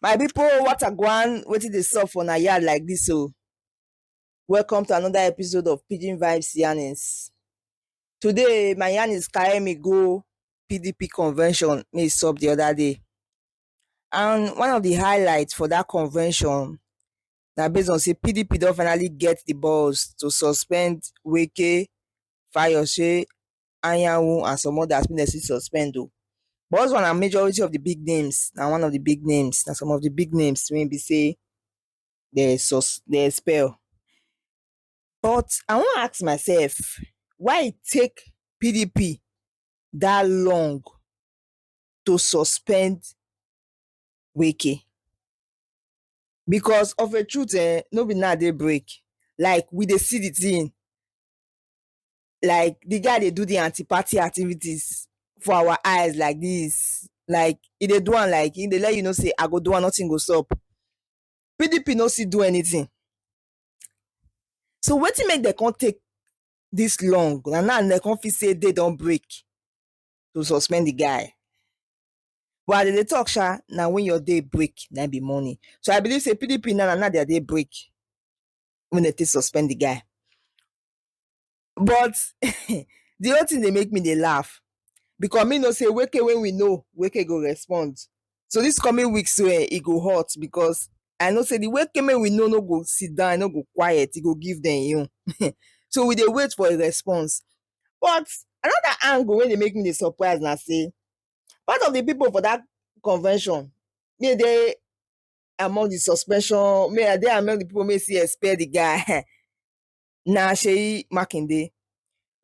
my pipo what agwan wetin dey sup for na yard like dis o oh? welcome to another episode of pidgin vibes yarnings today my yarnings carry me go pdp convention wey e sup di oda day And one of the highlights for that convention na based on say PDP don finally get the balls to suspend Wike, Fayose, Anyanwu and some others wey dem still suspend o. But also na majority of the big names na one of the big names na some of the big names wey be say dem sus dem expel. But I wan ask myself why e take PDP that long to suspend Wike because of a truth eh, no be now they break. Like we dey see the thing. Like the guy they do the anti-party activities for our eyes like this. Like if they do one like if they let you know say I go do one, nothing goes up. PDP no see do anything. So what wetin make they can't take this long? And now they can't say they don't break. to suspend the guy. But as they dey talk sha, na when your day break, na be morning. So I believe say PDP now na now their day break when they take suspend the guy. But the whole thing dey make me dey laugh because me know say Weke when we know Weke go respond. So this coming week so eh, e go hot because I know say the Weke when we know no go sit down, no go quiet, e go give them you. so we dey wait for a response. But another angle wey dey make me dey surprise na sey part of the people for that convention me dey among the suspension me I dey among the people wey still expel the guy na Seyi Makinde.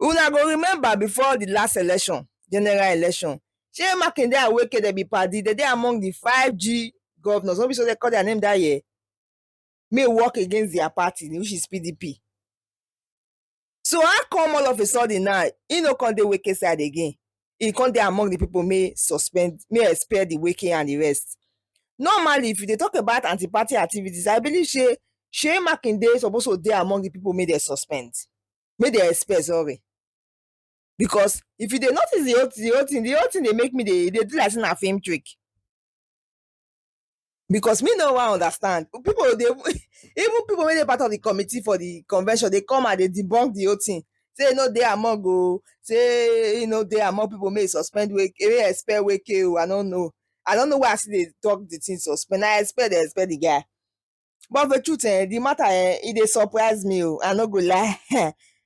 Una go remember before the last election, general election, Seyi Makinde and Wike dem be padi, dem dey among the five G governors, no be so dem call their name that year? May work against their party which is PDP. So how come all of a sudden now he no come dey wake side again? He come dey among the people may suspend, may spare the waking and the rest. Normally, if you dey talk about anti-party activities, I believe say Shey Makinde suppose to dey among the people may they suspend, may they expel, sorry. Because if you dey notice the whole, the whole thing, the whole thing dey make me dey dey do like say na film trick. because me no wan understand people dey even people wey dey part of the committee for the convention dey come and dey debunk the whole thing say e no dey among o say e no dey among people make e suspend Wike make e expel Wike o I no know I no know why I still dey talk the thing suspend na expel dem expel the guy But the truth eh, the matter eh, e dey surprise me o. I no go lie.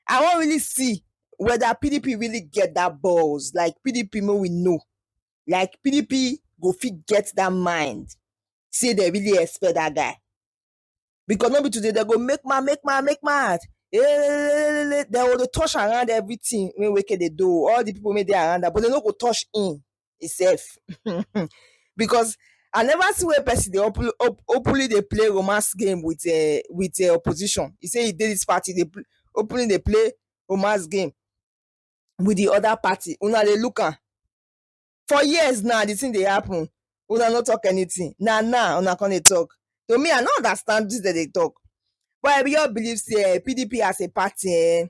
I wan really see whether PDP really get that balls. Like PDP make we know. Like PDP go fit get that mind. Say they really expect that guy. Because no be today they go make mad, make mad, make mad. Eh, They go dey touch around everything wey Wike dey do. All the people wey dey around am, but they no go touch him. itself because I never see where person dey open op openly dey play romance game with um with um opposition e say e dey this party dey pl openly dey play romance game with the other party una dey look am for years now the thing dey happen una no talk anything na now una come dey talk to me I no understand wetin dem dey talk but I be just believe say um PDP as a party um